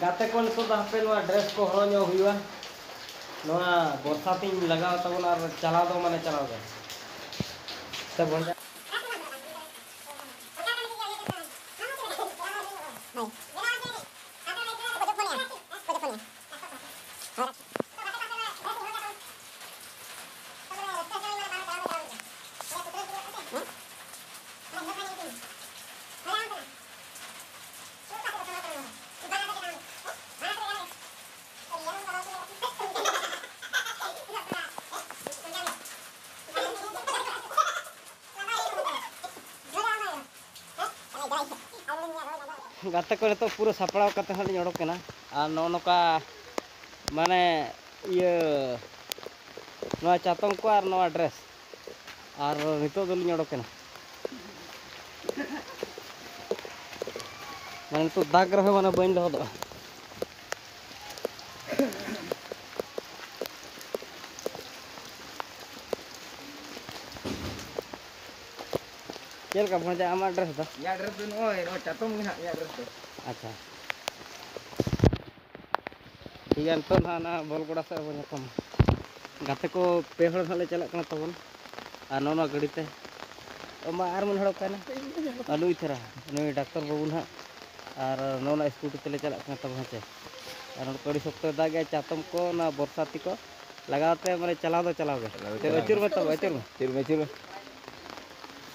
ᱜᱟᱛᱮ ᱠᱚ ᱱᱤᱛᱚᱜ ᱫᱚ ᱦᱟᱯᱮ ᱱᱚᱣᱟ ᱰᱨᱮᱥ ᱠᱚ ᱦᱚᱨᱚᱜ ᱧᱚᱜ ᱦᱩᱭᱩᱜᱼᱟ ᱱᱚᱣᱟ ᱵᱚᱨᱥᱟ ᱛᱤᱧ ᱞᱟᱜᱟᱣ ᱛᱟᱵᱚᱱᱟ ᱟᱨ ᱪᱟᱞᱟᱣ ᱫᱚ ᱢᱟᱱᱮ ᱪᱟᱞᱟᱣ ᱜᱮ ᱥᱮ ᱵᱷᱚᱸᱡᱟ ᱜᱟᱛᱮ ᱠᱚ ᱱᱤᱛᱚᱜ ᱯᱩᱨᱟᱹ ᱥᱟᱯᱲᱟᱣ ᱠᱟᱛᱮ ᱦᱟᱸᱜ ᱞᱤᱧ ᱚᱰᱚᱠ ᱠᱟᱱᱟ ᱟᱨ ᱱᱚᱜᱼᱚ ᱱᱚᱝᱠᱟ ᱢᱟᱱᱮ ᱤᱭᱟᱹ ᱱᱚᱣᱟ ᱪᱟᱛᱚᱢ ᱠᱚ ᱟᱨ ᱱᱚᱣᱟ ᱰᱨᱮᱥ ᱟᱨ ᱱᱤᱛᱚᱜ ᱫᱚᱞᱤᱧ ᱚᱰᱚᱠᱮᱱᱟ ᱢᱟᱱᱮ ᱱᱤᱛᱚᱜ ᱫᱟᱜᱽ ᱨᱮᱦᱚᱸ ᱢᱟᱱᱮ ᱵᱟᱹᱧ ᱞᱚᱦᱚᱫᱚᱜᱼᱟ ᱪᱮᱫ ᱞᱮᱠᱟ ᱵᱷᱚᱸᱡᱟ ᱟᱢᱟᱜ ᱰᱨᱮᱥ ᱫᱚ ᱤᱧᱟᱹᱜ ᱰᱨᱮᱥ ᱫᱚ ᱱᱚᱜᱼᱚᱭ ᱱᱚᱜᱼᱚᱭ ᱪᱟᱛᱚᱢ ᱜᱮ ᱦᱟᱸᱜ ᱤᱧᱟᱹᱜ ᱰᱨᱮᱥ ᱫᱚ ᱟᱪᱪᱷᱟ ᱴᱷᱤᱠ ᱜᱮᱭᱟ ᱱᱤᱛᱚᱜ ᱱᱟᱦᱟᱜ ᱚᱱᱟ ᱵᱚᱞ ᱜᱚᱰᱟ ᱥᱮᱫ ᱵᱚᱱ ᱧᱟᱯᱟᱢᱟ ᱜᱟᱛᱮ ᱠᱚ ᱯᱮ ᱦᱚᱲ ᱱᱟᱦᱟᱜ ᱞᱮ ᱪᱟᱞᱟᱜ ᱠᱟᱱᱟ ᱛᱟᱵᱚᱱ ᱟᱨ ᱱᱚᱣᱟ ᱱᱚᱣᱟ ᱜᱟᱹᱰᱤ ᱛᱮ ᱢᱟ ᱟᱨ ᱢᱤᱫ ᱦᱚᱲ ᱚᱠᱟᱭᱮᱱᱟ ᱟᱞᱩ ᱤᱛᱷᱟᱨᱟ ᱱᱩᱭ ᱰᱟᱠᱛᱚᱨ ᱵᱟᱹᱵᱩ ᱱᱟᱦᱟᱜ ᱟᱨ ᱱᱚᱣᱟ ᱱᱚᱣᱟ ᱥᱠᱩᱴᱤ ᱛᱮᱞᱮ ᱪᱟᱞᱟᱜ ᱠᱟᱱᱟ ᱛᱟᱵᱚᱱ ᱦᱮᱸᱥᱮ ᱟᱨ ᱱᱚᱰᱮ ᱠᱚ ᱟᱹᱰᱤ ᱥᱚᱠᱛᱚ ᱫᱟᱜᱮᱜᱼᱟ ᱪᱟᱛᱚᱢ ᱠᱚ ᱚᱱᱟ ᱵᱚᱨᱥᱟᱛᱤ ᱠᱚ ᱞᱟᱜᱟᱣ ᱛᱮ ᱢᱟᱱᱮ ᱪᱟᱞᱟᱣ ᱫᱚ ᱪᱟᱞᱟᱣ ᱜᱮ ᱛᱚᱵᱮ ᱟᱹᱪᱩᱨ ᱢᱮ ᱛᱚᱵᱮ ᱟᱹᱪᱩᱨ ᱢᱮ ᱪᱮᱫ ᱢᱮ ᱪᱮᱫ ᱢᱮ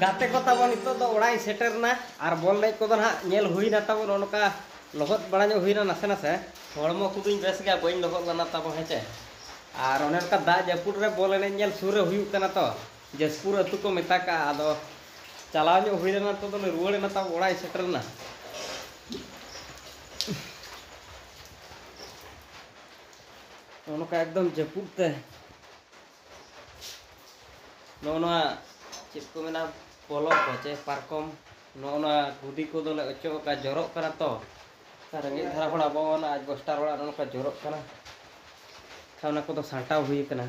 ᱜᱟᱛᱮ ᱠᱚ ᱛᱟᱵᱚᱱ ᱱᱤᱛᱚᱜ ᱫᱚ ᱚᱲᱟᱜ ᱤᱧ ᱥᱮᱴᱮᱨ ᱮᱱᱟ ᱟᱨ ᱵᱚᱞ ᱮᱱᱮᱡ ᱠᱚᱫᱚ ᱱᱟᱦᱟᱜ ᱧᱮᱞ ᱦᱩᱭᱱᱟ ᱛᱟᱵᱚᱱ ᱚᱱᱠᱟ ᱞᱚᱦᱚᱫ ᱵᱟᱲᱟ ᱧᱚᱜ ᱦᱩᱭᱱᱟ ᱱᱟᱥᱮ ᱱᱟᱥᱮ ᱦᱚᱲᱢᱚ ᱠᱚᱫᱚᱧ ᱵᱮᱥ ᱜᱮᱭᱟ ᱵᱟᱹᱧ ᱞᱚᱦᱚᱫ ᱞᱮᱱᱟ ᱛᱟᱵᱚ ᱦᱮᱸᱪᱮ ᱟᱨ ᱚᱱᱮ ᱚᱱᱠᱟ ᱫᱟᱜ ᱡᱟᱹᱯᱩᱫ ᱨᱮ ᱵᱚᱞ ᱮᱱᱮᱡ ᱧᱮᱞ ᱥᱩᱨ ᱨᱮ ᱦᱩᱭᱩᱜ ᱠᱟᱱᱟ ᱛᱚ ᱡᱟᱥᱯᱩᱨ ᱟᱹᱛᱩ ᱠᱚ ᱢᱮᱛᱟ ᱠᱟᱜᱼᱟ ᱟᱫᱚ ᱪᱟᱞᱟᱣ ᱧᱚᱜ ᱦᱩᱭ ᱞᱮᱱᱟ ᱛᱚ ᱫᱚᱞᱮ ᱨᱩᱣᱟᱹᱲ ᱮᱱᱟ ᱛᱟᱵᱚ ᱚᱲᱟᱜ ᱤᱧ ᱥᱮᱴᱮᱨ ᱞᱮᱱᱟ ᱚᱱᱠᱟ ᱮᱠᱫᱚᱢ ᱡᱟᱹᱯᱩᱫ ᱛᱮ ᱱᱚᱜᱼᱚ ᱱᱚᱣᱟ ᱪᱮᱫ ᱠᱚ ᱢᱮᱱᱟ ᱯᱚᱞᱚᱝ ᱠᱚ ᱪᱮ ᱯᱟᱨᱠᱚᱢ ᱱᱚᱜᱼᱚ ᱱᱚᱣᱟ ᱠᱩᱫᱤ ᱠᱚᱫᱚᱞᱮ ᱚᱪᱚᱜ ᱟᱠᱟᱫ ᱡᱚᱨᱚᱜ ᱠᱟᱱᱟ ᱛᱚ ᱨᱮᱸᱜᱮᱡ ᱫᱷᱟᱨᱟ ᱦᱚᱲ ᱟᱵᱚ ᱚᱱᱟ ᱟᱡ ᱵᱚᱥᱴᱟᱨ ᱚᱲᱟᱜ ᱱᱚᱝᱠᱟ ᱡᱚᱨᱚᱜ ᱠᱟᱱᱟ ᱠᱷᱟᱱ ᱚᱱᱟ ᱠᱚᱫᱚ ᱥᱟᱢᱴᱟᱣ ᱦᱩᱭ ᱟᱠᱟᱱᱟ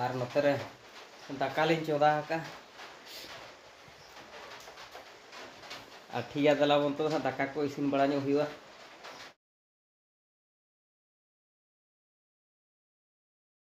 ᱟᱨ ᱱᱚᱛᱮ ᱨᱮ ᱫᱟᱠᱟ ᱞᱤᱧ ᱪᱚᱸᱫᱟ ᱟᱠᱟᱫᱼᱟ ᱟᱨ ᱴᱷᱤᱠ ᱜᱮᱭᱟ ᱫᱮᱞᱟ ᱵᱚᱱ ᱛᱚ ᱦᱟᱸᱜ ᱫᱟᱠᱟ ᱠᱚ ᱤᱥᱤᱱ ᱵᱟᱲᱟ ᱧᱚᱜ ᱦᱩᱭᱩᱜᱼᱟ